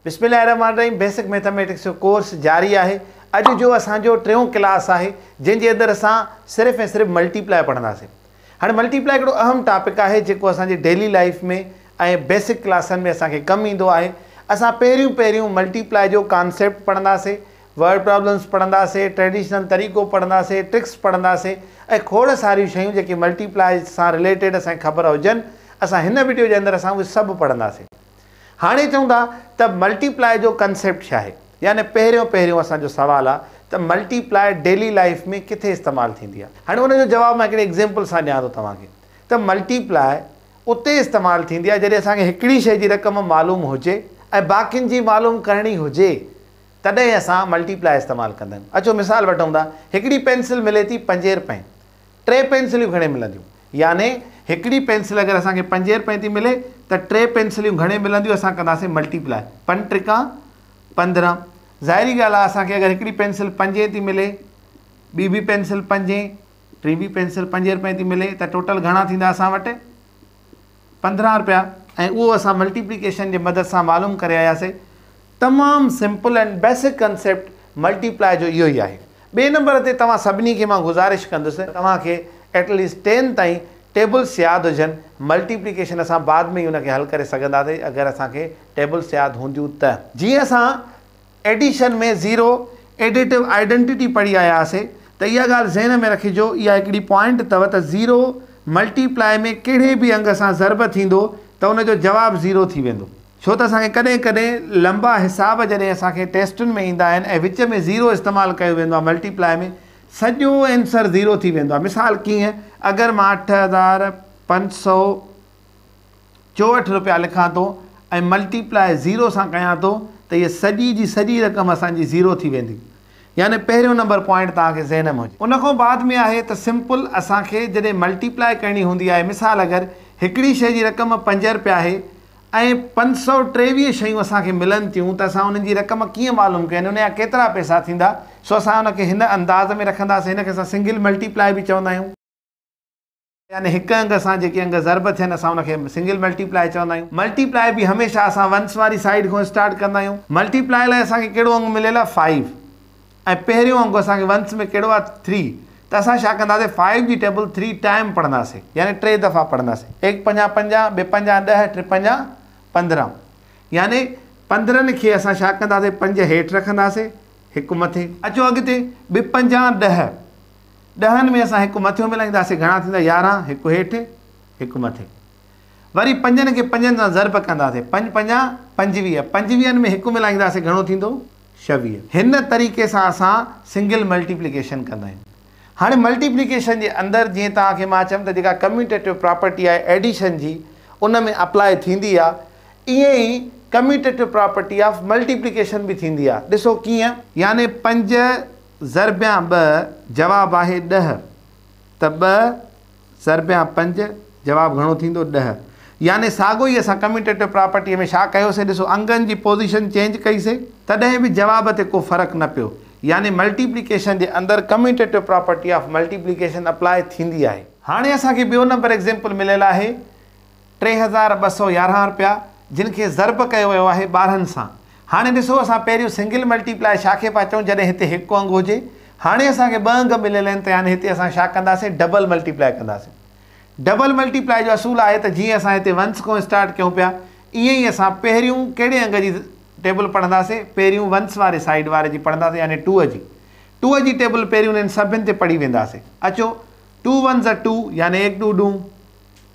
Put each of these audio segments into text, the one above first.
بسم الله الرحمٰن الرحيم بيسڪ ميٿاميٽڪس جو ڪورس جاري آهي اڄ جو اسان جو ٽيون ڪلاس آهي جنهن جي اندر اسان صرف ۽ صرف ملٽي پلاء پڙهنداسين هاڻي ملٽي پلاء هڪڙو اهم ٽاپڪ آهي جيڪو اسان جي ڊيلي لائف ۾ ۽ بيسڪ ڪلاسن ۾ اسان کي ڪم ايندو آهي اسان پهريون پهريون ملٽي پلاء جو ڪانسيپٽ پڙهنداسين ورڊ پرابلمس پڙهنداسين ٽريڊيشنل طريقو پڙهنداسين ٽرڪس پڙهنداسين ۽ کوڙ ساريون شيون جيڪي ملٽي پلاء سان رليٽيڊ اسان کي خبر هجن اسان هن وڊيو جي اندر اسان اهي سڀ پڙهنداسين هاڻي چئون ٿا ته ملٽي پلاء جو ڪنسيپٽ ڇا آهي يعني پهريون پهريون اسان جو سوال آهي ته ملٽي پلاء ڊيلي لائيف ۾ ڪٿي استعمال ٿيندي آهي هاڻي ان جو جواب مان هڪڙي ايگزيمپل سان ڏيان ٿو توهان کي ته ملٽي پلاء اتي استعمال ٿيندي آهي جڏهن اسان کي هڪڙي شئي جي رقم معلوم هجي ۽ باقين جي معلوم ڪرڻي هجي تڏهن اسان ملٽي پلاء استعمال ڪندا آهيون اچو مثال وٺون ٿا هڪڙي پينسل ملي ٿي پنجين رپين ٽي پينسليون گهڻي ملنديون؟ يعني هڪڙي پينسل اگر اسان کي پنجين رپين ٿي ملي ته ٽي پينسليون گهڻي ملنديون اسان ڪنداسين ملٽي پلاء پن ٽريڪان پندرهن ظاهري ڳالهه آهي اسان کي اگر هڪڙي پينسل پنجين ٿي ملي ٻي به پينسل پنجين ٽي به پينسل پنجين رپين ٿي ملي ته ٽوٽل گهڻا ٿيندا اسان وٽ پندرهن رپيا ۽ اهو اسان ملٽيپليڪيشن جي مدد سان معلوم ڪري آياسي تمام simple and basic concept multiply جو اهو ئي آهي ٻئي نمبر تي توهان سڀني کي مان گذارش ڪندس توهان کي ايٽ ليسٽ ٽين تائين ٽيبلس ياد هجن ملٽيپليڪيشن اسان بعد ۾ ئي ان کي حل ڪري سگهنداسي اگر اسان کي ٽيبلس ياد هونديون ته جيئن اسان ايڊيشن ۾ زيرو ايڊيٽو آئيڊنٽيٽي پڙهي آيا هئاسي ته اها ڳالهه ذهن ۾ رکجو اها هڪڙي پوائنٽ اٿو ته زيرو ملٽي پلائي ۾ ڪهڙي به انگ سان ضرب ٿيندو ته ان جو جواب زيرو ٿي ويندو ڇو ته اسان کي ڪڏهن ڪڏهن لنبا حساب جڏهن اسان کي ٽيسٽن ۾ ايندا آهن ۽ وچ ۾ زيرو استعمال ڪيو ويندو آهي ملٽي پلائي ۾ سڄو اينسر زيرو ٿي ويندو آهي مثال ڪيئن اگر مان اٺ هزار پنج سؤ 64 رپيا لکان ٿو ۽ ملٽي پلاء زيرو سان ڪيان ٿو ته هيء سڄي جي سڄي رقم اسان جي زيرو ٿي ويندي يعني پهريون نمبر پوائنٽ توهان کي ذهن م هجي. ان کان بعد ۾ آهي ته سمپل اسان کي جڏهن ملٽي پلاء ڪرڻي هوندي آهي مثال اگر هڪڙي شئي جي رقم پنج رپيا آهي ۽ پنج سؤ ٽيويهه شيون اسان کي ملن ٿيون ته اسان انهن جي رقم ڪيئن معلوم ڪيون ان جا ڪيترا پئسا ٿيندا سو اسان ان کي هن انداز ۾ رکنداسين هن کي اسان سنگل ملٽي پلاء به چوندا آهيون. يعني هڪ انگ سان جيڪي انگ ضرب ٿين اسان ان کي سنگل ملٽي پلائي چوندا آهيون. ملٽي پلائي به هميشه اسان ونس واري سائيڊ کان اسٽارٽ ڪندا آهيون. ملٽي پلائي لاء اسان کي ڪهڙو انگ مليل آهي فائو ۽ پهريون انگ اسان کي ونس ۾ ڪهڙو آهي ٿري ته اسان ڇا ڪنداسين فائو جي ٽيبل ٿري ٽائيم پڙهنداسين يعني ٽي دفعا پڙهنداسين ايڪ پنجا پنجا ٻي پنجا ڏهه ٽي پنجا پندرهن يعني پندرهن کي اسان ڇا ڪنداسين پنج هيٺ رکنداسين هڪ مٿي. اچو اڳتي ٻي پنجا ڏهه. ڏهن ۾ اسان هڪ مٿيون ملائينداسين، گهڻا ٿيندا؟ يارهن، هڪ هيٺ، هڪ مٿي. وري پنجن کي پنجن سان ضرب ڪنداسين، پنج پنجا پنجويهه، پنجويهن ۾ هڪ ملائينداسين، گهڻو ٿيندو؟ ڇويهه. هن طريقي سان اسان سنگل ملٽيپليڪيشن ڪندا آهيون. هاڻي ملٽيپليڪيشن جي اندر جيئن توهان کي مان چيم ته جيڪا ڪميوٽيٽو پراپرٽي آهي ايڊيشن جي ان ۾ اپلاء ٿيندي آهي، ائين ئي ڪميوٽيٽو پراپرٽي آف ملٽيپليڪيشن به ٿيندي آهي. ڏسو ڪيئن؟ يعني پنج ضربيان ٻه جواب آهي ڏهه ته ٻه ضربيان پنج جواب گهڻو ٿيندو ڏهه يعني ساڳو ئي اسان ڪميوٽيٽو پراپرٽيء ۾ ڇا ڪيوسي ڏسو انگن جي پوزيشن چينج ڪئيسي تڏهن به جواب تي ڪو فرق نه پيو يعني ملٽيپليڪيشن جي اندر commutative property of multiplication apply ٿيندي آهي. هاڻي اسان کي ٻيو نمبر ايگزيمپل مليل آهي. ٽي هزار ٻه سؤ يارهن رپيا جن کي ضرب ڪيو ويو آهي ٻارهن سان هاڻي ڏسو اسان پهريون سنگل ملٽي پلائي ڇا کي پيا چئون جڏهن هتي هڪ انگ هجي هاڻي اسان کي ٻه انگ مليل آهن ته يعني هتي اسان ڇا ڪنداسين ڊبل ملٽي پلائي ڪنداسين ڊبل ملٽي پلائي جو اصول آهي ته جيئن اسان هتي ونس کان اسٽارٽ ڪيون پيا ايئن ئي اسان پهريون ڪهڙي انگ جي ٽيبل پڙهنداسين پهريون ونس واري سائيڊ واري جي پڙهنداسين يعني ٽوء جي ٽوء جي ٽيبل پهريون انهن سڀن تي پڙهي وينداسين اچو ٽو ونز ٽو يعني ايڪ ڏو ڏون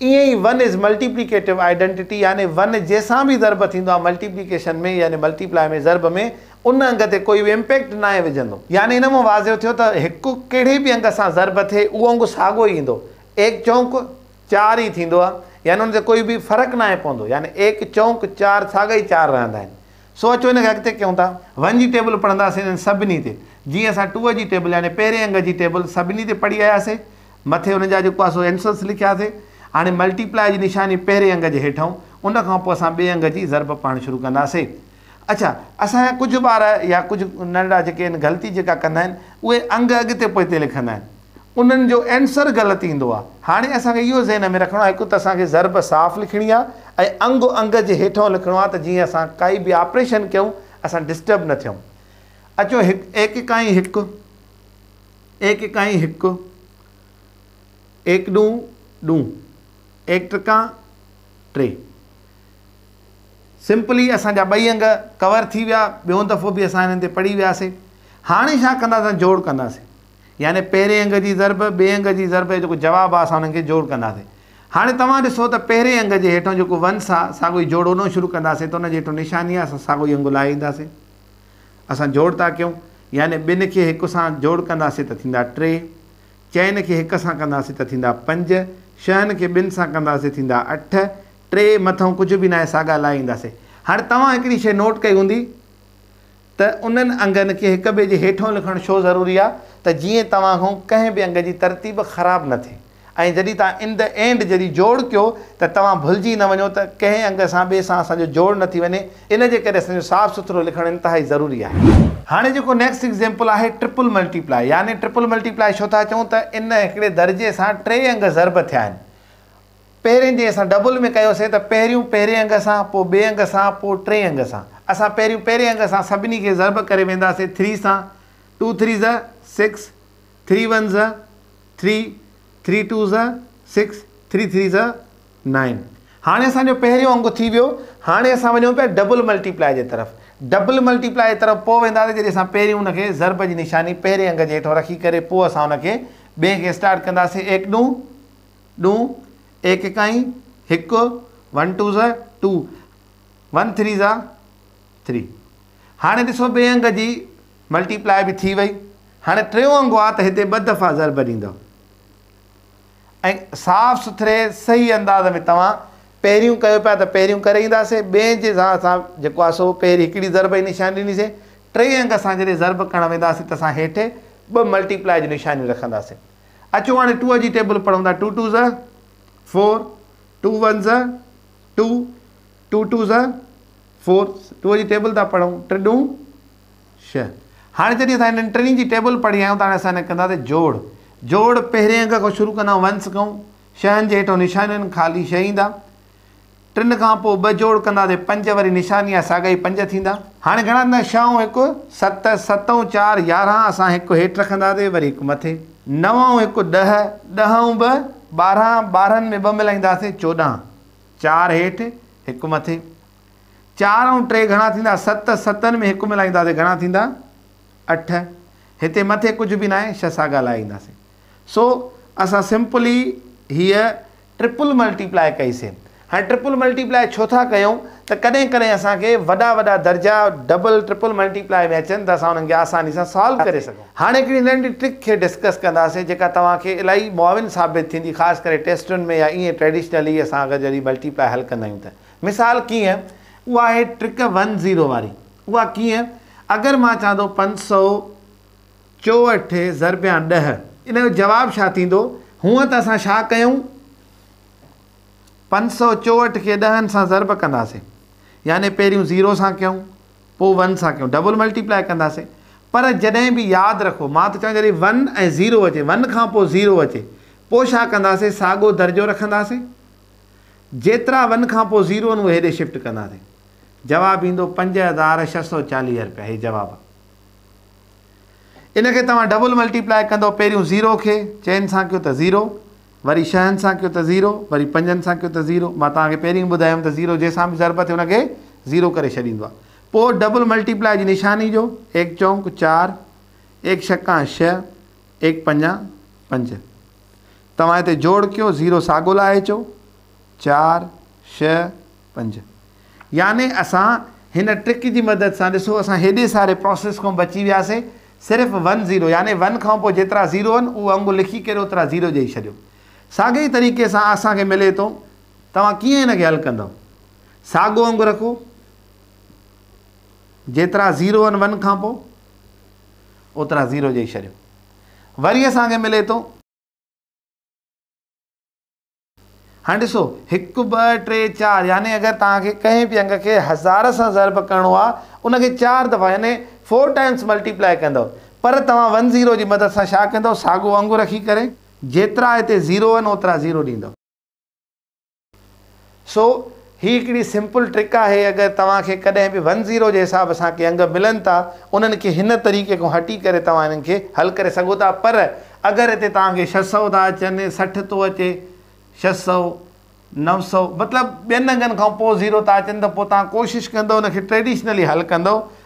ائين ئي ون از ملٽيپليڪيٽو آئيڊنٽيٽي يعني ون جنهن سان به ضرب ٿيندو آهي ملٽيپليڪيشن ۾ يعني ملٽيپلاء ۾ ضرب ۾ ان انگ تي ڪوئي به امپيڪٽ ناهي وجهندو. يعني ان مان واضح ٿيو ته هڪ ڪهڙي به انگ سان ضرب ٿئي اهو انگ ساڳو ئي ايندو ايڪ چونڪ چار ئي ٿيندو آهي يعني ان تي ڪوئي به فرق ناهي پوندو يعني ايڪ چونڪ چار ساڳا ئي چار رهندا آهن سو اچو ان کي اڳتي ڪيون ٿا. ون جي ٽيبل پڙهنداسين انهن سڀني تي جيئن اسان ٽوء جي ٽيبل يعني پهرين انگ جي ٽيبل سڀني تي پڙهي آياسين مٿي ان جا جيڪو آسو Answers لکياسي. هاڻي Multiply جي نشاني پهرين انگ جي هيٺئون، ان کان پوء اسان ٻئي انگ جي ضرب پاڻ شروع ڪنداسي. اڇا اسان جا ڪجهه ٻار يا ڪجهه ننڍڙا جيڪي آهن غلطي جيڪا ڪندا آهن اهي انگ اڳتي پوئتي لکندا آهن. انهن جو Answer غلط ايندو آهي. هاڻي اسان کي اهو ذهن ۾ رکڻو آهي هڪ ته اسان کي ضرب صاف لکڻي آهي ۽ انگ انگ جي هيٺئون لکڻو آهي ته جيئن اسان ڪائي به آپريشن ڪيون اسان Disturb نه ٿيون. اچو هڪ ايڪڪائين هڪ. ايڪ اڪائين هڪ، ايڪ ڏون ڏون، ايڪ ٽڪان ٽي. سمپلي اسان جا ٻئي انگ ڪور ٿي ويا ٻيون دفعو به اسان هنن تي پڙهي وياسي هاڻي ڇا ڪنداسين جوڙ ڪنداسين يعني پهرين انگ جي ضرب ٻئي انگ جي ضرب جو جيڪو جواب آهي اسان هنن کي جوڙ ڪنداسين هاڻي توهان ڏسو ته پهرين انگ جي هيٺون جيڪو ونس آهي ساڳو ئي جوڙ هونو شروع ڪنداسين ته ان جي هيٺون نشاني آهي اسان ساڳو ئي انگ لائي اينداسين اسان جوڙ ٿا ڪيون، يعني ٻن کي هڪ سان جوڙ ڪنداسين ته ٿيندا ٽي، چئن کي هڪ سان ڪنداسين ته ٿيندا پنج، شهن کي ٻن سان ڪنداسين ٿيندا اٺ، ٽي مٿئون ڪجهه به ناهي ساڳا لائي اينداسين. هاڻي توهان هڪڙي شيء نوٽ ڪئي هوندي ته انهن انگن کي هڪ ٻئي جي هيٺئون لکڻ ڇو ضروري آهي ته جيئن توهان کان ڪنهن به انگ جي ترتيب خراب نه ٿئي. ۽ جڏهن توهان ان دي اينڊ جهڙي جوڙ ڪيو ته توهان ڀلجي نه وڃو ته ڪنهن انگ سان ٻئي سان اسان جو جوڙ نه ٿي وڃي ان جي ڪري اسان جو صاف سٿرو لکڻ انتهائي ضروري آهي. هاڻي جيڪو نيڪسٽ ايگزيمپل آهي ٽرپل ملٽي پلائي يعني ٽرپل ملٽي پلائي ڇو ٿا چئون ته ان هڪڙي درجي سان ٽي انگ ضرب ٿيا آهن پهرين جي اسان ڊبل ۾ ڪيوسين ته پهريون پهرين انگ سان پوء ٻئي انگ سان پوء ٽئين انگ سان اسان پهريون پهرين انگ سان سڀني کي ضرب ڪري وينداسين ٿري سان ٽو ٿري زا سڪس ٿري ون زا ٿري، ٿري ٽو زا سڪس، ٿري ٿري زا نائن. هاڻي اسان جو پهريون انگ ٿي ويو. هاڻي اسان وڃون پيا ڊبل ملٽي پلائي جي طرف. ڊبل ملٽي پلائي جي طرف پوء وينداسين جڏهن اسان پهريون ان کي ضرب جي نشاني پهرين انگ جي هيٺون رکي ڪري پوء اسان ان کي ٻئي کي اسٽارٽ ڪنداسين ايڪ ڏون ڏون ايڪ اڪائين هڪ ون ٽو زا ٽو ون ٿري زا ٿري. هاڻي ڏسو ٻئي انگ جي ملٽي پلائي به ٿي وئي هاڻي ٽيون انگ آ ته هتي ٻه دفعا ضرب ڏيندؤ ۽ صاف سٿري صحيح انداز ۾ توهان پهريون ڪيو پيا ته پهريون ڪري اينداسين ٻين جي سان اسان جيڪو آ سو پهرين هڪڙي ضرب جي نشاني ڏنيسين ٽئين انگ اسان جڏهن ضرب ڪرڻ وينداسين ته اسان هيٺي ٻه ملٽي پلائي جون نشانيون رکنداسين اچو هاڻي ٽوء جي ٽيبل پڙهون ٿا ٽو ٽو زه فور ٽو ون زه ٽو ٽو ٽو زه فور ٽوء جي ٽيبل ٿا پڙهون ٽي ڏون شھ. هاڻي جڏهن اسان هنن ٽنهي جي ٽيبل پڙهي آيا آهيون ته هاڻي اسان هن کي ڪنداسين جوڙ. جوڙ پهرين انگ کان شروع ڪندا ونس ڪئون. شهن جي هيٺون نشانين خالي شهه ايندا. ٽن کان پوء ٻه جوڙ ڪنداسين پنج وري نشاني آهي ساڳا ئي پنج ٿيندا. هاڻي گهڻا ٿيندا شهه ۽ هڪ ست، ست ۽ چار يارهن اسان هڪ هيٺ رکنداسين وري هڪ مٿي. نو ۽ هڪ ڏهه، ڏهه ۽ ٻه ٻارهن، ٻارهن ۾ ٻه ملائينداسين چوڏهن. چار هيٺ هڪ مٿي. چار ۽ ٽي گهڻا ٿيندا؟ ست، ستن ۾ هڪ ملائينداسين، گهڻا ٿيندا؟ اٺ. هتي مٿي ڪجهه به ناهي، ڇهه ساڳا لاهي اينداسين. سو اسان سمپلي هيء ٽرپل ملٽي پلائي ڪئي سي. هاڻي ٽرپل ملٽي پلائي ڇو ٿا ڪيون ته ڪڏهن ڪڏهن اسان کي وڏا وڏا درجا ڊبل، ٽرپل ملٽي پلائي ۾ اچن ته اسان انهن کي آساني سان سالو ڪري سگهون. هاڻي هڪڙي ننڍي ٽرڪ کي ڊسڪس ڪنداسين جيڪا توهان کي الاهي معاون ثابت ٿيندي خاص ڪري ٽيسٽن ۾ يا ائين ٽريڊيشنلي اسان اگر جڏهن ملٽي پلائي حل ڪندا آهيون ته. مثال ڪيئن؟ اها آهي ٽرڪ ون زيرو واري. اها ڪيئن؟ اگر مان چوان ٿو پنج سؤ چوهٺ ضربيان ڏهه ان جو جواب ڇا ٿيندو؟ هونئن ته اسان ڇا ڪيون؟ پنج سؤ چوهٺ کي ڏهن سان ضرب ڪنداسين. يعني پهريون زيرو سان ڪيون، پوء ون سان ڪيون. ڊبل ملٽي پلائي ڪنداسين. پر جڏهن به ياد رکو مان ٿو چوان جڏهن ون ۽ زيرو اچي، ون کان پوء زيرو اچي، پوء ڇا ڪنداسين؟ ساڳيو درجو رکنداسين. جيترا ون کان پوء زيرو آهن اهي هيڏي شفٽ ڪنداسين. جواب ايندو پنج هزار ڇهه سؤ چاليهه رپيا هي جواب آهي. ان کي توهان ڊبل ملٽي پلائي ڪندؤ پهريون زيرو کي چئن سان ڪيو ته زيرو وري شهن سان ڪيو ته زيرو وري پنجن سان ڪيو ته زيرو مان توهان کي پهرين ئي ٻڌايو هوم ته زيرو جنهن سان به ضرب ٿئي ان کي زيرو ڪري ڇڏيندو آهي پوء ڊبل ملٽي پلائي جي نشاني جو ايڪ چونڪ چار ايڪ ڇڪان ڇهه ايڪ پنجان پنج توهان هتي جوڙ ڪيو زيرو ساڳو لاهي اچو چار شهه پنج يعني اسان هن ٽرڪ جي مدد سان ڏسو اسان هيڏي ساري پروسيس کان بچي وياسي صرف ون زيرو يعني ون کان پوء جيترا زيرو هن اهو انگ لکي ڪري اوترا زيرو ڏئي ڇڏيو ساڳي ئي طريقي سان اسان کي ملي ٿو توهان ڪيئن هن کي حل ڪندو ساڳو انگ رکو جيترا زيرو هن ون کان پوء اوترا زيرو ڏئي ڇڏيو وري اسان کي ملي ٿو هاڻي ڏسو، هڪ، ٻه، ٽي، چار يعني اگر توهان کي ڪنهن به انگ کي هزار سان ضرب ڪرڻو آهي، ان کي چار دفعا يعني Four Times Multiply ڪندؤ، پر توهان ون زيرو جي مدد سان ڇا ڪندؤ، ساڳو انگ رکي ڪري جيترا هتي زيرو آهن اوترا زيرو ڏيندؤ. سو هي هڪڙي سمپل ٽرڪ آهي اگر توهان کي ڪڏهن به ون زيرو جي حساب سان ڪي انگ ملن ٿا انهن کي هن طريقي کان هٽي ڪري توهان انهن کي حل ڪري سگهو ٿا پر اگر هتي توهان کي ڇهه سؤ ٿا اچن سٺ ٿو اچي ڇهه سؤ نو سؤ مطلب ٻين انگن کان پوء زيرو ٿا اچن ته پوء توهان ڪوشش ڪندو ان کي ٽريڊيشنلي حل ڪندو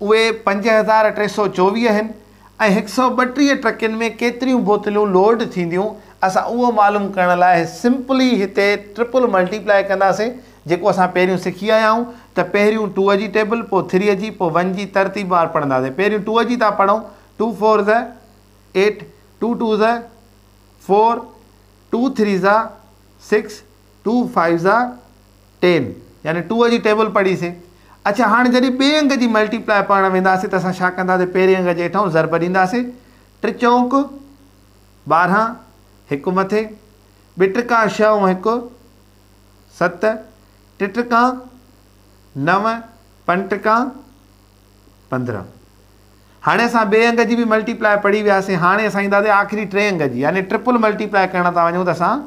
اهي پنج هزار ٽي سؤ چوويهه آهن ۽ هڪ سؤ ٻٽيهه ٽرڪين ۾ ڪيتريون بوتلون لوڊ ٿينديون اسان اهو معلوم ڪرڻ لاء سمپلي هتي ٽرپل ملٽي پلائي ڪنداسين جيڪو اسان پهريون سکي آيا آهيون ته پهريون ٽوء جي ٽيبل پوء ٿريء جي پوء ون جي ترتيب وار پڙهنداسين پهريون ٽوء جي ٿا پڙهون ٽو فور زا ايٽ ٽو ٽو زا فور ٽو ٿري زا سڪس ٽو فائيو زا ٽين يعني ٽوء جي ٽيبل پڙهي سين. اڇا هاڻ جڏهن ٻئي انگ جي ملٽي پلائي پڙهڻ وينداسين ته اسان ڇا ڪندا سين پهرين انگ جي هيٺئون ضرب ڏينداسين ٽچونڪ ٻارهن هڪ مٿي ٻٽرڪان ڇهه ۽ هڪ ست ٽٽرڪان نو پنٽرڪان پندرهن هاڻي اسان ٻئي انگ جي به ملٽي پلائي پڙهي وياسين هاڻي اسان اينداسين آخري ٽئين انگ جي يعني ٽرپل ملٽي پلائي ڪرڻ ٿا وڃون ته اسان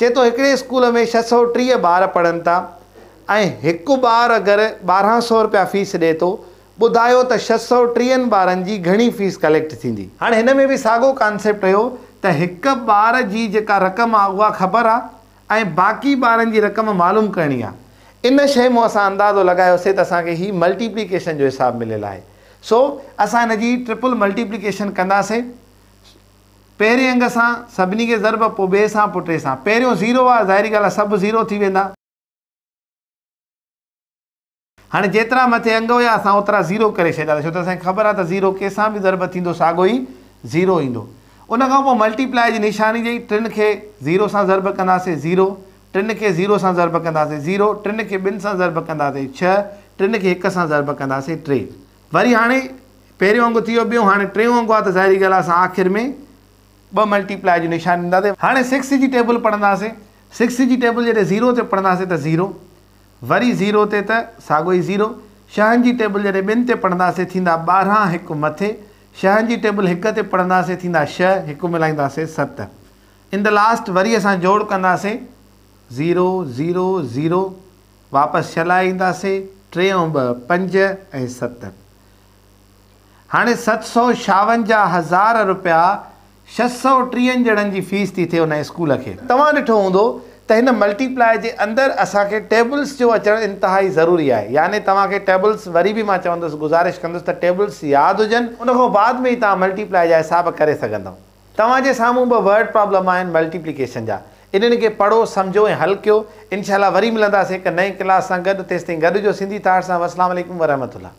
چئي ٿو هڪڙي اسڪول ۾ ڇهه سؤ ٽيهه ٻار پڙهن ٿا ۽ هڪ ٻار اگر ٻارهن سؤ رپيا فيس ڏئي ٿو ٻڌايو ته ڇهه سؤ ٽيهن ٻارن جي گهڻي فيس ڪليڪٽ ٿيندي. هاڻ هن ۾ به ساڳو ڪانسيپٽ هيو ته هڪ ٻار جي جيڪا رقم آ اها خبر آ ۽ باقي ٻارن جي رقم معلوم ڪرڻي آ. ان شيء مون اسان اندازو لڳايو سي ته اسان کي هي ملٽي پليڪيشن جو حساب مليل آهي سو اسان هن جي ٽرپل ملٽي پليڪيشن ڪنداسين. پهرين انگ سان سڀني کي ضرب پوء ٻئي سان پوء ٽئين سان پهريون زيرو آهي ظاهري ڳالهه آهي سڀ زيرو ٿي ويندا. هاڻي جيترا مٿي انگ هيا اسان اوترا زيرو ڪري ڇڏيا ته ڇو ته اسان کي خبر آهي ته زيرو ڪنهن سان به ضرب ٿيندو ساڳو ئي زيرو ايندو ان کان پوء ملٽي پلائي جي نشاني جي ٽن کي زيرو سان ضرب ڪنداسين زيرو ٽن کي زيرو سان ضرب ڪنداسين زيرو ٽن کي ٻن سان ضرب ڪنداسين ڇهه ٽن کي هڪ سان ضرب ڪنداسين ٽي وري هاڻي پهريون انگ ٿي ويو ٻيون هاڻي ٽيون انگ آ ته ظاهري ڳالهه آ اسان آخر ۾ ٻه ملٽي پلائي جو نشان ڏينداسين هاڻي سڪس جي ٽيبل پڙهنداسين سڪس جي ٽيبل جڏهن زيرو تي پڙهنداسين ته زيرو وري زيرو تي ته ساڳو ئي زيرو شهن جي ٽيبل جڏهن ٻن تي پڙهنداسين ٿيندا ٻارهن هڪ مٿي شهن جي ٽيبل هڪ تي پڙهنداسين ٿيندا شهه هڪ ملائينداسين ست ان دي لاسٽ وري اسان جوڙ ڪنداسين زيرو زيرو زيرو واپس ڇلا اينداسين ٽيون ٻه پنج ۽ ست هاڻي ست سو شاون جا هزار روپيا ڇهه سو ٽيهن ڄڻن جي فيس ٿي ٿئي ان اسڪول کي. توهان ڏٺو هوندو ته هن ملٽي پلائي جي اندر اسان کي ٽيبلز جو اچڻ انتهائي ضروري آهي يعني توهان کي ٽيبلز وري به مان چوندس گذارش ڪندس ته ٽيبلز ياد هجن ان کان بعد ۾ ئي توهان ملٽي پلائي جا حساب ڪري سگهندؤ. توهان جي سامهون ٻه ورڊ پرابلم آهن ملٽيپليڪيشن جا انهن کي پڙهو سمجهو ۽ حل ڪيو انشاء الله وري ملنداسين هڪ نئين ڪلاس سان گڏ تيستائين گڏ هجو سنڌي ٿاٽس سان والسلام عليڪم ورحمة الله.